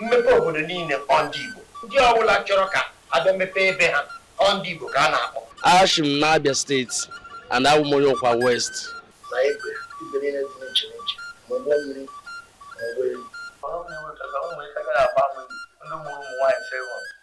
Mmepe obodo niile ọ ndị Igbo? Ndị ọ bụla chọrọ ka a bịa mepee ebe ha ọ ndị Igbo ka a na-akpọ? Ashi m n'Abia steeti and abụ m onye Ụkwa West. Na igwe igwe niile dị n'iche n'iche ma ụgbọ mmiri ma ụgbọelu. Ọrụ na-enweta ka ụmụ ike gaghị agbanwe ndị mụrụ ụmụ nwaanyị sịrị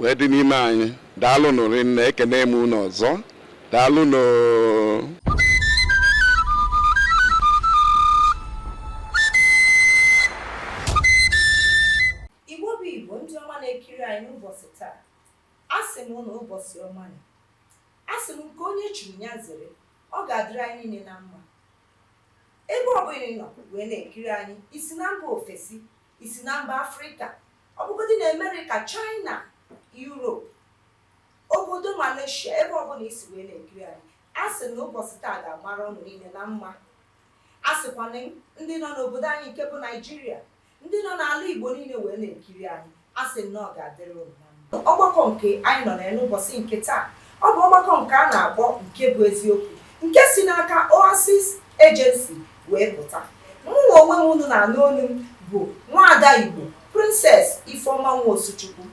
wee dị n'ime anyị daalụ nụ rinne ekene m unu ọzọ daalụ nụ igbo bụ igbo ndị ọma na-ekiri anyị n'ụbọsị taa a sị m unu ụbọsị ọma nụ a sị m nke onye chiri ya zere ọ ga-adịrị anyị niile na mma ebe ọ bụla ị nọ wee na-ekiri anyị i si na mba ofesi i si na mba Afrịka, ọ bụgodị na Amerịka, Chaịna, Yurop, obodo Maleshia, ebe ọbụla i si wee na-ekiri anyị, a sị na ụbọsị taa ga-amara ụnụ niile na mma. A sịkwa m ndị nọ n'obodo anyị nke bụ Naịjirịa, ndị nọ n'ala Igbo niile wee na-ekiri anyị, a sị m na ọ ga-adịrị ụnụ na Ọgbakọ nke anyị nọ n'ụbọsị nke taa, ọ bụ ọgbakọ nke a na-akpọ Nke Bụ Eziokwu, nke si n'aka Oasis Agency wee pụta. Mụnwa onwe m unu na-anụ onu m bụ Nwaada Igbo, Princess Ifeoma Nwosuchukwu.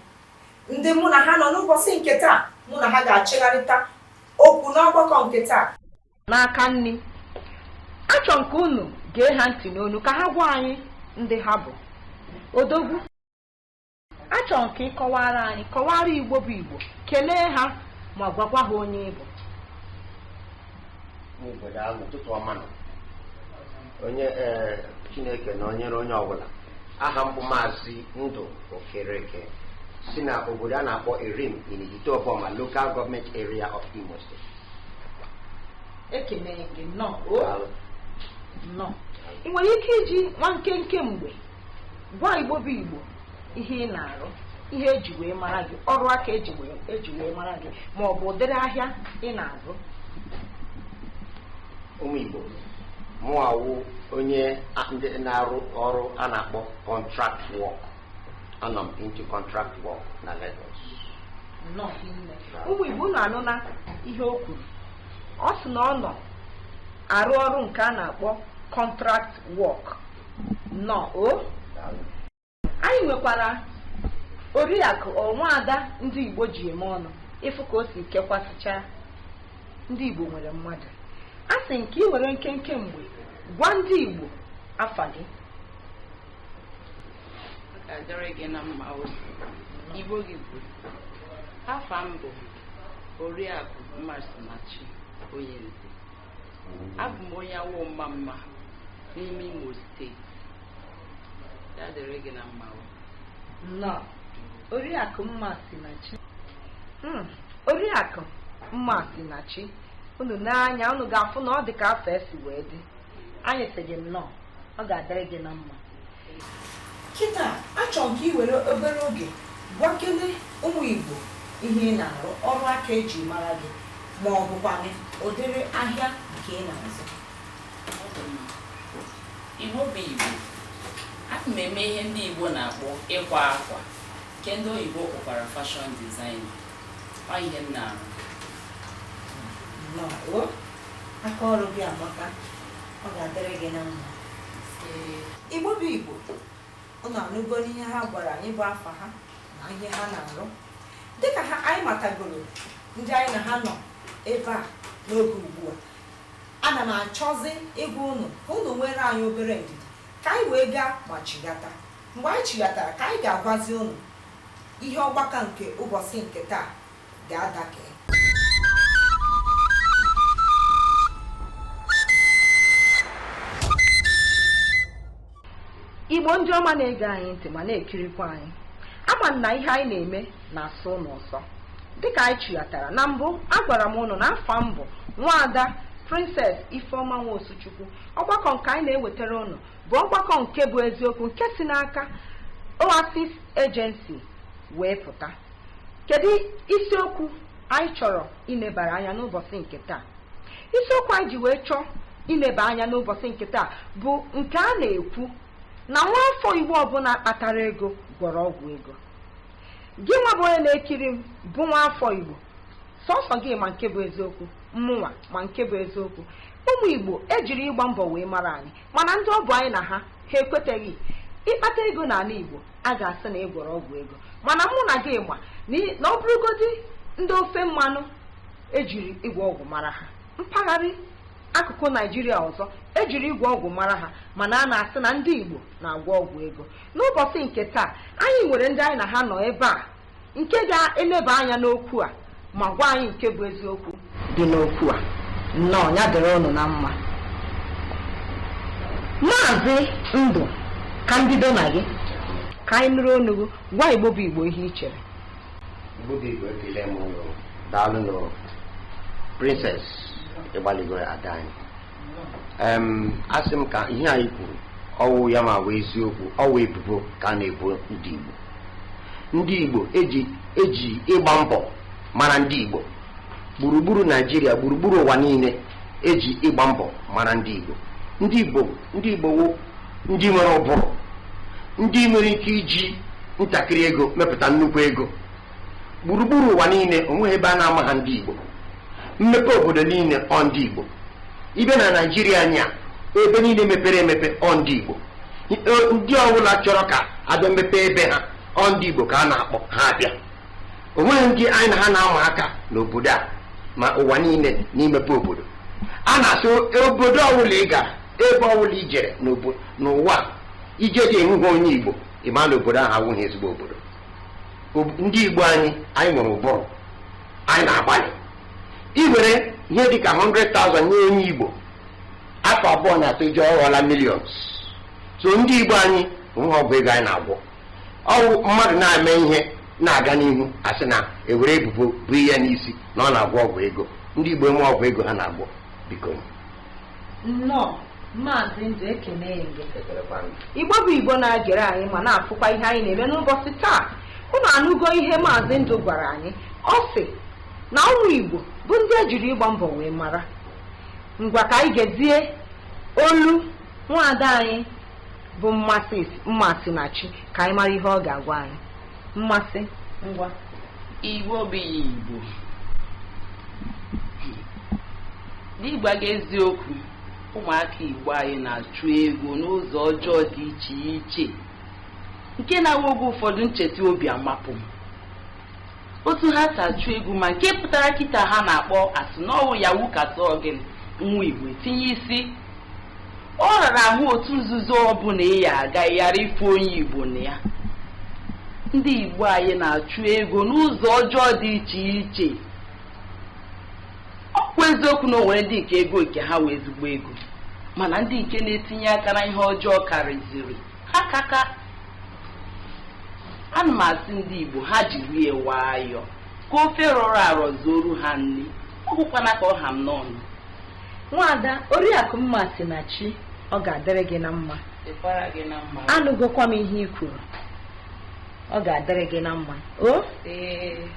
Ndị mụ na ha nọ n'ụbọsị nke taa, mụ na ha ga-achịgharịta okwu n'ọgbakọ nke taa. N'aka nni, achọ m ka unu gee ha ntị n'onu ka ha gwa anyị ndị ha bụ. Odogwu. achọ m ka ị kọwara anyị kọwara igbo bụ igbo kelee ha ma gwakwa ha onye ị bụ n'obodo ahụ ụtụtụ ọma nụ onye ee chineke nọnyere onye ọbụla aha m bụ maazị ndụ okereke si na obodo a na-akpọ erim in Ihitte Uboma local government area of Imo State ekele gị nnọọ o Daalụ. nnọọ ị nwere ike iji nwa nkenke mgbe gwa igbo bụ igbo ihe ị na-arụ ihe eji wee mara gị ọrụ aka eji wee mara gị ma ọ bụ ụdịrị ahịa ị na-azụ ụmụ igbo mụ awụ onye a- ndị na-arụ ọrụ a na-akpọ contract work anọ m into contract work na Lagos nnọọ hinne. ụmụ igbo unu anụna ihe o kwuru ọ sị na ọ nọ arụ ọrụ nke a na-akpọ contract work nnọọ o anyị nwekwara oriakụ ọ nwaada ndị igbo ji eme ọnụ ị fụ ka o si kekwasịcha ndị igbo nwere mmadụ a sị m ka ị were nkenke mgbe gwa ndị igbo afa gị ga-adịrị gị na mma o igbo gị bụ afa m bụ oriakụ mmasinachi onye nze Abụ m onye Awo Omamma n'ime Imo steeti. Ya dịrị gị na mma o. Nnọọ. Oriakụ Mmasinachi. Hmm, Oriakụ Mmasinachi, unu nee anya unu ga-afụ na ọ dị ka afa ya si wee dị. Anyị sị gị nnọọ, ọ ga-adịrị gị na mma. kịta achọrọ m ka ị were obere oge gwakene ụmụ Igbo ihe ị na-arụ ọrụ aka eji mara gị ma ọ bụkwanị ụdịrị ahịa nke ị na-azụ Igbo bụ Igbo ana m eme ihe ndị Igbo na-akpọ ịkwa akwa nke ndị oyibo kpọkwara fashion design ọ ihe m na-arụ nnọọ o aka ọrụ gị amaka ọ ga-adịrị gị na mma igbo bụ igbo ụnụ anụgonụ ihe ha gwara anyị bụ afa ha na ihe ha na-arụ dịka ha anyị matagoro ndị anyị na ha nọ ebe a n'oge ugbu a ana m achọzi ịgwa ụnụ ka ụnụ nwere anyị obere ndidi ka anyị wee gaa ma chigata mgbe anyị chighatara ka anyị ga-agwazi ụnụ ihe ọgbakọ nke ụbọsị nke taa ga-adịka igbo ndị ọma na-ege anyị ntị ma na-ekirikwa anyị ama m na ihe anyị na-eme na-asọ ụnụ ụsọ dịka anyị chighatara na mbụ agwara m ụnụ na afa m bụ nwaada princess ifeoma nwosuchukwu ọgbakọ nke anyị na-ewetara ụnụ bụ ọgbakọ nke bụ eziokwu nke si n'aka oasis agency wee pụta Kedu isiokwu anyị chọrọ ilebara anya n'ụbọsị nke taa? Isiokwu anyị ji wee chọọ ileba anya n'ụbọsị nke taa bụ nke a na-ekwu na nwa afọ Igbo ọbụla kpatara ego gwọrọ ọgwụ ego. Gị nwa bụ onye na-ekiri m bụ nwa afọ Igbo, sọsọ gị ma nke bụ eziokwu, mụnwa ma nke bụ eziokwu. Ụmụ Igbo ejiri ịgba mbọ wee mara anyị. mana ndị ọ bụ anyị na ha ha ekweteghị ị kpata ego n'anị igbo a ga-asị na ị gwọrọ ọgwụ ego mana mụ na gị ma na ị- na ọ bụrụgodi ndị ofe mmanụ ejiri ịgwọ ọgwụ mara ha mpaghara akụkụ naijiria ọzọ ejiri ịgwọ ọgwụ mara ha mana a na-asị na ndị igbo na-agwọ ọgwụ ego n'ụbọsị nke taa anyị nwere ndị anyị na ha nọ ebe a nke ga-eleba anya n'okwu a ma gwa anyị nke bụ eziokwu dị n'okwu a nnọọ ya dịrị ụnụ na mma maazị ndụ ka m bido na gị ka anyị nụrụ ọnụ gị gwa igbo bụ igbo ihe i chere Igbo bụ Igbo ekele m ụnụ daalụ nụ princess ị gbalịgo ada anyị em asị m ka ihe anyị kwuru ọwụ ya ma wụ eziokwu ọwụ ebubo ka a na-ebo ndị Igbo ndị Igbo eji eji ịgba mbọ mara ndị Igbo gburugburu Naijiria gburugburu ụwa niile eji ịgba mbọ mara ndị Igbo ndị Igbo ndị Igbo wụ ndị nwere ụbụrụ ndị nwere ike iji ntakịrị ego mepụta nnukwu ego gburugburu ụwa niile onweghị ebe a na-amaha ndị Igbo Mmepe obodo niile ọ ndị Igbo. Ị bịa na Naịjirịa anyị a, ebe niile mepere emepe ọ ndị Igbo. Ndị- Ndị ọbụla chọrọ ka abịa mepee ebe ha ọ ndị Igbo ka a na-akpọ ha abịa. O nweghị ndị anyị na ha na-ama aka n'obodo a ma ụwa niile n'imepe obodo. A na-asị obodo ọbụla ị gara, ebe ọbụla i jere n'obo- n'ụwa a, ije dị ahụghị onye Igbo, ị ma na obodo ahụ awụghị ezigbo obodo. Ob- Ndị Igbo anyị, anyị nwere ụbụrụ. anyị na-agbalị i were ihe dị ka 100,000 nye onye Igbo afọ abụọ na atọ i jee ọ ghọọla millions so ndị Igbo anyị enweghị ọgwụ ego anyị na-agwọ ọwụ mmadụ na-eme ihe na-aga n'ihu asị na ewere ebubo bo ya n'isi na ọ na-agwọ ọgwụ ego ndị Igbo enwe ọgwụ ego ha na-agwọ biko nnọọ maazị ndụ ekene gị igbo bụ igbo na-agere anyị ma na-afụkwa ihe anyị na-eme n'ụbọsị taa unu anụgo ihe maazị ndụ gwara anyị ọ sị na ụmụ igbo bụ ndị ejiri ịgba mbọ wee mara ngwa ka anyị gezie olu nwaada anyị bụ mmasị mmasịnachi ka anyị mara ihe ọ ga-agwa anyị mmasị ngwa igbo bụ igbo n'ịgwa gị eziokwu ụmụaka igbo anyị na-achụ ego n'ụzọ ọjọọ dị iche iche nke na-awụ oge ụfọdụ m cheta obi amapụ m otu ha si achụ ego ma nke pụtara kịta ha na-akpọ asị na ọwụ yahoo ka a sị ọ gịnị nwa igbo tinye isi Ọ rara ahụ otu nzuzo ọbụla ị ya aga ị ghara ịfụ onye Igbo na ya. Ndị Igbo anyị na-achụ ego n'ụzọ ọjọọ dị iche iche. Ọ bụ eziokwu na o nwere ndị nke ego nke ha wụ ezigbo ego mana ndị nke na-etinye aka na ihe ọjọọ karịziri ha kaka ana m asị ndị Igbo ha jiri ya nwayọọ ka ofe rọrọ arọ zuoru ha nri ọ bụkwana ka ọ ha m n'ọnụ nwaada oriakụ mmasịnachi ọ ga-adịrị gị na mma dịkwara gị na mma anụgokwa m ihe i kwuru ọ ga-adịrị gị na mma o ee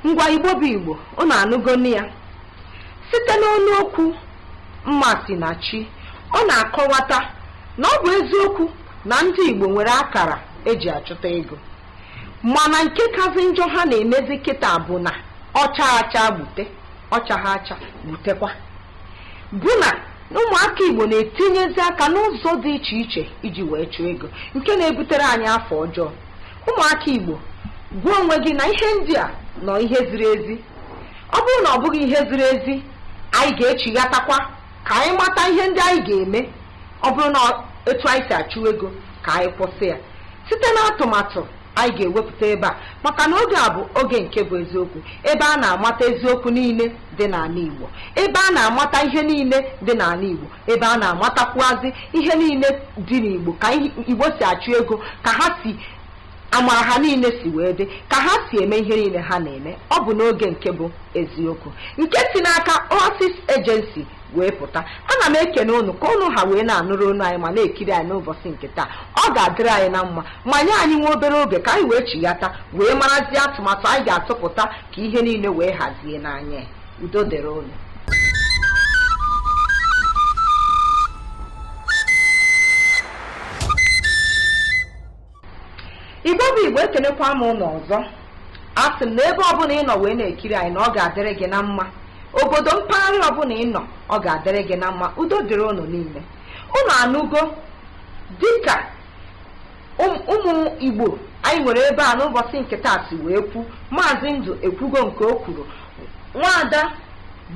ngwa igbo bụ igbo unu anụgonu ya site n'ọnụ okwu mmasịnachi ọ na-akọwata na ọ bụ eziokwu na ndị igbo nwere akara eji achụta ego mana nke kazi njọ ha na-emezi kịta bụ na ọ chaghị acha gbute ọchaghị acha gbutekwa bụ na ụmụaka igbo na-etinyezi aka n'ụzọ dị iche iche iji wee chụọ ego nke na-ebutere anyị afa ọjọọ ụmụaka igbo gwa onwe gị na ihe ndị a na ọ ihe ziri ezi ọ bụrụ na ọ bụghị ihe ziri ezi anyị ga-echighatakwa ka anyị mata ihe ndị anyị ga-eme ọ bụrụ na etu anyị si achụ ego ka anyị kwụsị ya site n'atụmatụ anyị ga-ewepụta ebe a maka na oge a bụ oge nke bụ eziokwu ebe a na-amata eziokwu niile dị n'ala Igbo ebe a na-amata ihe niile dị n'ala Igbo ebe a na-amatakwuazị ihe niile dị n'Igbo ka Igbo si achụ ego ka ha si amara ha niile si wee dị ka ha si eme ihe niile ha na-eme ọ bụ n'oge nke bụ eziokwu nke si n'aka Oasis Agency wee pụta ana m ekene unu ka unu ha wee na-anụrụ onu anyị ma na-ekiri anyị n'ụbọchị nke taa ọ ga-adịrị anyị na mma ma nye anyị nwa obere oge ka anyị wee chighata wee marazie atụmatụ anyị ga-atụpụta ka ihe niile wee hazie n'anya udo dịrị unu Igbo bụ Igbo ekenekwa m unu ọzọ asị m na ebe ọbụla ị nọ wee na-ekiri anyị na ọ ga-adịrị gị na mma obodo mpaghara ọbụla ị nọ ọ ga-adịrị gị na mma udo dịrị unu niile unu anụgo dịka ụmụ Igbo anyị nwere ebe a n'ụbọchị nke taa si wee kwu maazị ndụ ekwugo nke o kwuru nwaada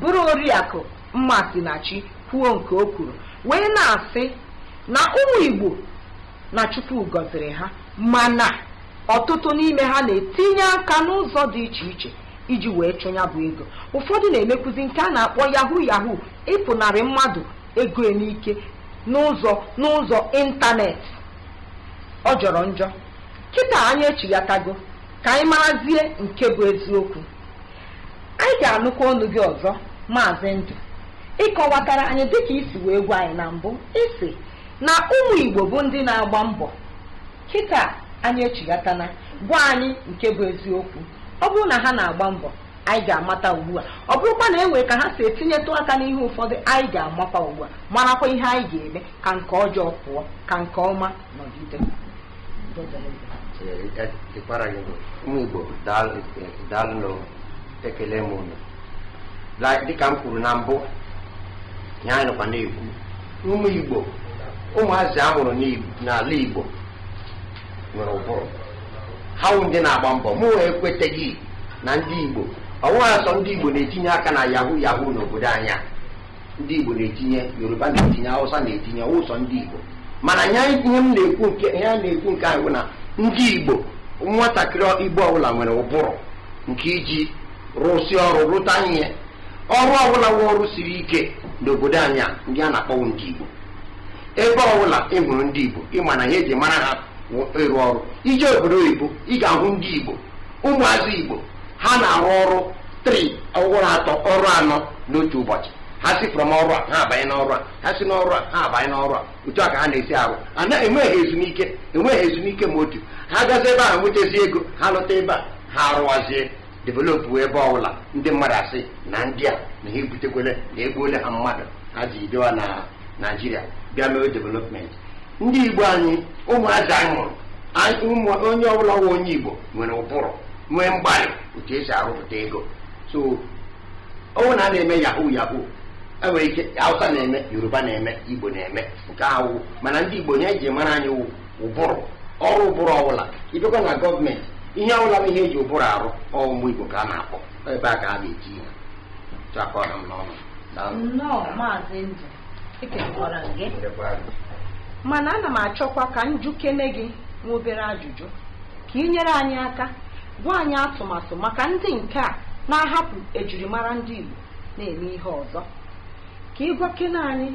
bụrụ oriakụ Mmasịnachi kwuo nke o kwuru wee na-asị na ụmụ Igbo na Chukwu gọziri ha mana ọtụtụ n'ime ha na-etinye aka n'ụzọ dị iche iche iji wee chụ nya bụ ego ụfọdụ na-emekwuzi nke a na-akpọ yahoo yahoo ịpụnarị mmadụ ego n'ike n'ụzọ ịntanetị ọ jọrọ njọ kịta anyị echighatago ka anyị marazie nke bụ eziokwu anyị ga-anụkwa ọnụ gị ọzọ maazị ndụ ị kọwatara anyị dịka i si wee gwa anyị na mbụ ị sị na ụmụ Igbo bụ ndị na-agba mbọ kịta anyị echighatana gwa anyị nke bụ eziokwu ọ bụrụ na ha na-agba mbọ anyị ga-amata ugbu a ọ bụrụkwa na e nwere ka ha si etinyetụ aka n'ihe ụfọdụ anyị ga-amakwa ugbu a marakwa ihe anyị ga-eme ka nke ọjọọ pụọ ka nke ọma nọgide ụmụ Igbo daalụ ekele m unu dịka m kwuru na mbụ ihe anyị nọkwa na-ekwu ụmụ igbo ụmụazị a mụrụ n'ala igbo nwere ụbụrụ ha wụ ndị na-agba mbọ mụnwa ekweteghị na ndị igbo ọ wụghị sọ ndị igbo na-etinye aka na yahoo yahoo n'obodo anyị a ndị igbo na-etinye yoruba na-etinye hausa na-etinye ọ wụghị sọ ndị igbo mana ya ihe m na-ekwu nke ya na-ekwu nke ahụ na ndị igbo nwatakịrị igbo ọbụla nwere ụbụrụ nke iji rụsị ọrụ rụta ihe ọrụ ọbụla wụ ọrụ siri ike n'obodo anyị a ndị a na-akpọ wụ ndị Igbo ebe ọbụla ị hụrụ ndị Igbo ịma na ihe eji mara ha wụ ịrụ ọrụ ije obodo oyibo ị ga-ahụ ndị Igbo ụmụazị Igbo ha na-arụ ọrụ three ọrụ atọ ọrụ anọ n'otu ụbọchị ha si from ọrụ a ha abanye n'ọrụ a ha si n'ọrụ a ha abanye n'ọrụ a otu a ka ha na-esi arụ na-enweghị ezumike enweghị ezumike ma otu ha gazi ebe ahụ nwetazi ego ha lọta ebe a ha arụwazie developụ ebe ọbụla ndị mmadụ asị na ndị a na ha ebutekwele na egbuole ha mmadụ ha ji bịa na naijiria bịa mee development ndị igbo anyị ụmụazị anyị mụrụ anyị- ụmụ- onye ọbụla wụ onye igbo nwere ụbụrụ nwee mgbalị otu esi arụpụta ego so ọwụ na a na-eme yahoo yahoo enwere ike hausa na-eme yoruba na-eme igbo na-eme nke ahụ mana ndị igbo ihe eji mara anyị wụ ụbụrụ ọrụ ụbụrụ ọbụla ịbịakwa na gọọmenti ihe ọbụla bụ ihe eji ụbụrụ arụ ụmụ igbo ka a na-akpọ ebe a ka a ga-eji ihe chakọ na m n'ọnụ Daalụ. nnọọ maazị ndụ ekelekwara gị Ndekwa gị. mana ana m achọkwa ka m jụkene gị nwa obere ajụjụ ka ị nyere anyị aka gwa anyị atụmatụ maka ndị nke a na-ahapụ ejirimara ndị Igbo na-eme ihe ọzọ ka ị gwakene anyị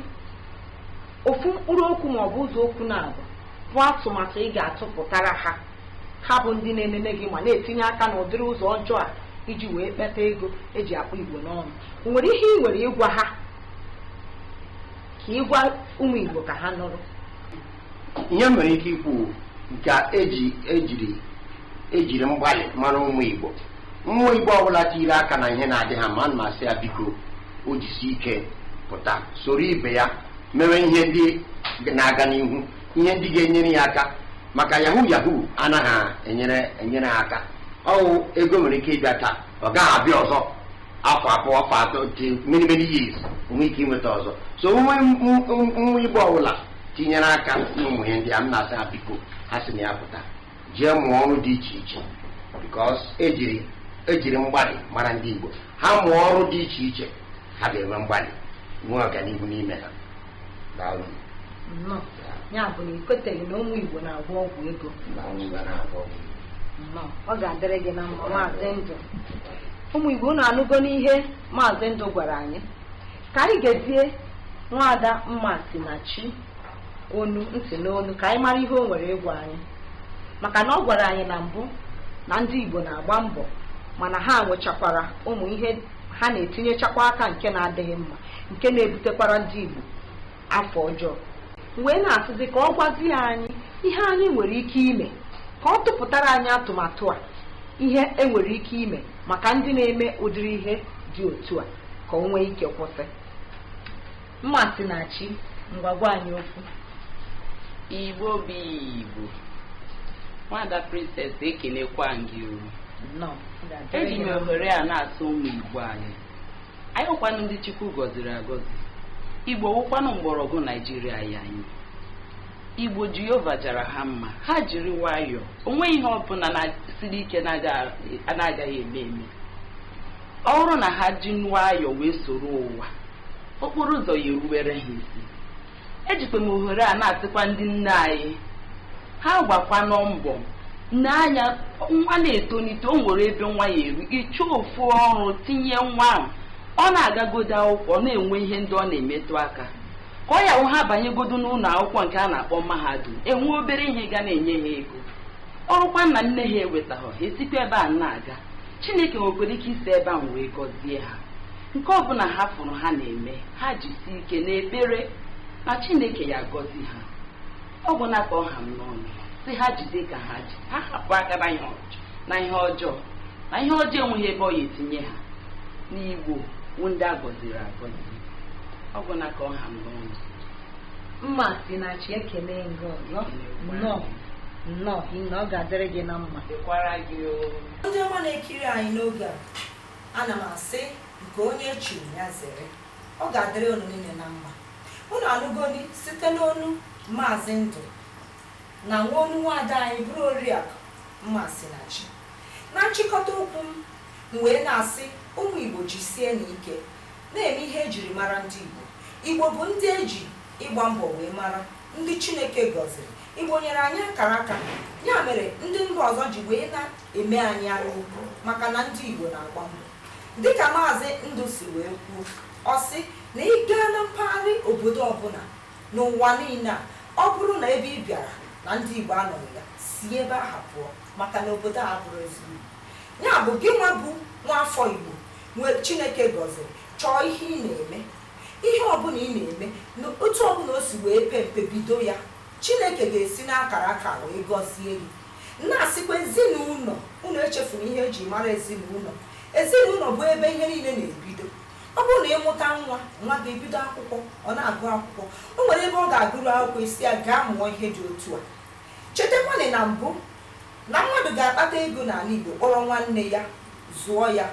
ofu mkpụrụ okwu ma ọ bụ ụzọ okwu naabọ bụ atụmatụ ị ga-atụpụtara ha ha bụ ndị na-enene gị ma na-etinye aka n'ụdịrị ụzọ ọjọọ a iji wee kpeta ego eji akpụ igbo n'ọnụ o nwere ihe ị nwere ịgwa ha ka ịgwa ụmụ igbo ka ha nụrụ ihe m nwere ike ikwu nke a eji ejiri ejiri mgbalị mara ụmụ igbo nwa igbo ọbụla tiri aka na ihe na-adịghị mma m na-asị ya biko o jisi ike pụta soro ibe ya mewe ihe ndị na-aga n'ihu ihe ndị ga-enyere ya aka maka yahoo yahoo anaghị enyere enyere ha aka ọwụ ego nwere ike ịbịa taa ọ gaghị abịa ọzọ afọ abụọ afọ atọ dị many many years o nwee ike inweta ọzọ so nwa nwa igbo ọbụla tinyere aka n'ụmụ ihe ndị a m na-asị ha biko ha si na ya pụta jee mụọ ọrụ dị iche iche because ejiri ejiri mgbalị mara ndị Igbo ha mụọ ọrụ dị iche iche ha ga-enwe mgbalị nwee ọganihu n'ime ha daalụ nnọọ ya bụ na ikweteghị na ụmụ Igbo na-agwọ ọgwụ ego na ọnwụ ga na-agwọ ọgwụ nnọọ ọ ga-adịrị gị na mma maazị ndụ ụmụ Igbo unu anụgoni ihe maazị ndụ gwara anyị ka anyị gezie nwaada mmasinachi onu ntị n'onu ka anyị mara ihe o nwere ịgwa anyị maka na ọ gwara anyị na mbụ na ndị Igbo na-agba mbọ mana ha nwechakwara ụmụ ihe ha na-etinyechakwa aka nke na-adịghị mma nke na-ebutekwara ndị Igbo afa ọjọọ wee na-asịzi ka ọ gwazie anyị ihe anyị nwere ike ime ka ọ tụpụtara anyị atụmatụ a ihe enwere ike ime maka ndị na-eme ụdịrị ihe dị otu a ka o nwee ike kwụsị Mmasinachi, ngwa gwa anyị okwu. Igbo bụ Igbo. Nwaada Princess ekenekwaa m gị o. Nnọọ. Eji m ohere a na-asị ụmụ Igbo anyị. Anyị wụkwanụ ndị Chukwu gọziri agọzi. Igbo wụkwanụ mgbọrọgwụ Naijiria anyị. Igbo Jehova jara ha mma. Ha jiri nwayọọ. O nweghị ihe ọbụna siri ike na-agaghị eme eme. Ọ bụrụ na ha ji nwayọọ wee soro ụwa okporo ụzọ ya-eruwere ha isi ejikwa m ohere a na-asịkwa ndị nne anyị ha gbakwanụ mbọ nee anya nwa na-etonite o nwere ebe nwa ya-eru ị chọọ ofu ọrụ tinye nwa ahụ ọ na-agagodo akwụkwọ ọ na-enwe ihe ndị ọ na-emetụ aka ka ọ ya wụ ha banyegodo n'ụlọ akwụkwọ nke a na-akpọ mahadum e nwee obere ihe ga na-enye ha ego ọ bụrụkwa na nne ha ewetaghọ ha esikwa ebe a na-aga chineke nwekwara ike isi ebe ahụ wee gọzie ha nke ọbụla ha fụrụ ha na-eme ha jisi ike n'ekpere na chineke ya-agọzi ha ọ bụ na ka ọ ha m n'ọnụ sị ha jide ka ha ji ha hapụ aka na ihe ọjọọ na ihe ọjọọ na ihe ọjọọ enweghị ebe ọ ya-etinye ha na igbo wụ ndị a gọziri agọzi ọ bụ na ka ọ ha m n'ọnụ mmasinachi ekele m gị ọzọ nnọọ nnọọ na ọ ga-adịrị gị na mma dịkwara gị o ndị ọma na-ekiri anyị n'oge a ana m asị nke onye chiri ya zere ọ ga-adịrị unu niile na mma unu anụgoni site n'onu maazị ndụ nakwa onu nwaada anyị bụrụ oriakụ mmasinachi na nchịkọta okwu m m wee na-asị ụmụ igbo jisienụ ike Na-eme ihe e jiri mara ndị Igbo. Igbo bụ ndị e ji ịgba mbọ wee mara, ndị Chineke gọziri. Igbo nyere anyị akara aka. Ya mere ndị mba ọzọ ji wee na-eme anyị anya ukwu maka na ndị Igbo na-agba mbọ. Dịka Maazị Ndụ si wee kwuo, ọ sị na ị gaa na mpaghara obodo ọbụla n'ụwa niile a, ọ bụrụ na ebe ị bịara na ndị Igbo anọghị ya, si ebe ahụ pụọ maka na obodo abụrọ ezigbo. Ya bụ gị nwa bụ nwaafọ Igbo nke chineke gọziri chọọ ihe ị na-eme ihe ọbụla ị na-eme na otu ọbụla o si wee pe mpe bido ya chineke ga-esi n'akara aka wee gọzie gị na-asịkwa ezinụlọ unu echefuru ihe eji mara ezinụlọ ezinụlọ bụ ebe ihe niile na-ebido ọ bụrụ na ị mụta nwa nwa ga-ebido akwụkwọ ọ na-agụ akwụkwọ o nwere ebe ọ ga-agụru akwụkwọ ị sị ya gaa mụọ ihe dị otu a chetakwanị na mbụ na mmadụ ga-akpata ego n'ala igbo kpọrọ nwanne ya zụọ ya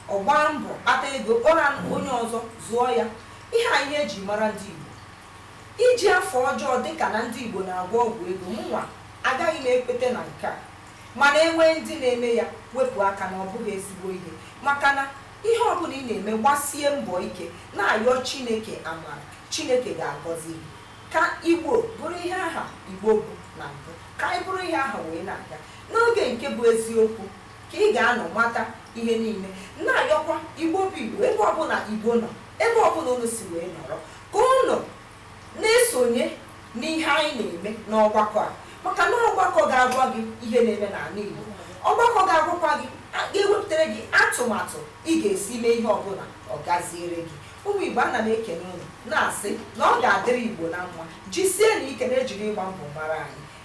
ọ gbaa mbọ kpata ego kpọrọ onye ọzọ zụọ ya ihe a ihe eji mara ndị Igbo iji afọ ọjọọ dịka na ndị Igbo na-agwọ ọgwụ ego mụnwa agaghị m ekweta na nke a mana e nwee ndị na-eme ya wepụ aka na ọ bụghị ezigbo ihe maka na ihe ọbụla ị na-eme gbasie mbọ ike na-ayọ Chineke amara Chineke ga-agọzi gị ka Igbo bụrụ ihe aha Igbo bụ na mbụ ka anyị bụrụ ihe aha wee na-aga n'oge nke bụ eziokwu ka ị ga-anọ mata ihe niile na-ayọkwa igbo bụ igbo ebe ọbụla igbo nọ ebe ọbụla unu si wee nọrọ ka unu na-esonye n'ihe anyị na-eme n'ọgbakọ a maka na ọgbakọ ga-agwa gị ihe na-eme n'ala igbo ọgbakọ ga-agwakwa gị a- ga-ewepụtara gị atụmatụ ị ga-esi mee ihe ọbụla ọ gaziere gị ụmụ igbo ana m ekene unu na-asị na ọ ga-adịrị igbo na mma jisienụ ike na e jiri ịgba mbọ mara anyị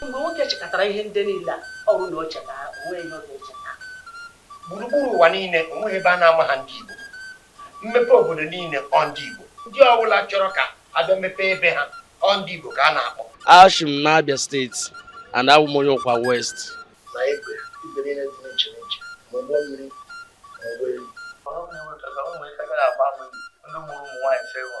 Mgbe nwoke chekatara ihe ndị niile a, ọ bụrụ na o cheta ha, o nweghị ihe ọ ga-echeta. Gburugburu ụwa niile, o nweghị ebe a na-amaha ndị Igbo. Mmepe obodo niile, ọ ndị Igbo. Ndị ọ bụla chọrọ ka a bịa mepee ebe ha, ọ ndị Igbo ka a na-akpọ. Ashi m n'Abia steeti and abụ m onye Ụkwa West. Na igwe, igwe niile dị n'iche n'iche, ma ụgbọ mmiri ma ụgbọelu. Ọrụ m na-enweta ka ụmụ ike gaghị agba ama ndị mụrụ ụmụ nwaanyị sị hụ.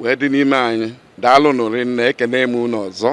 wee dị n'ime anyị daalụnụ rinne ekene m unu ọzọ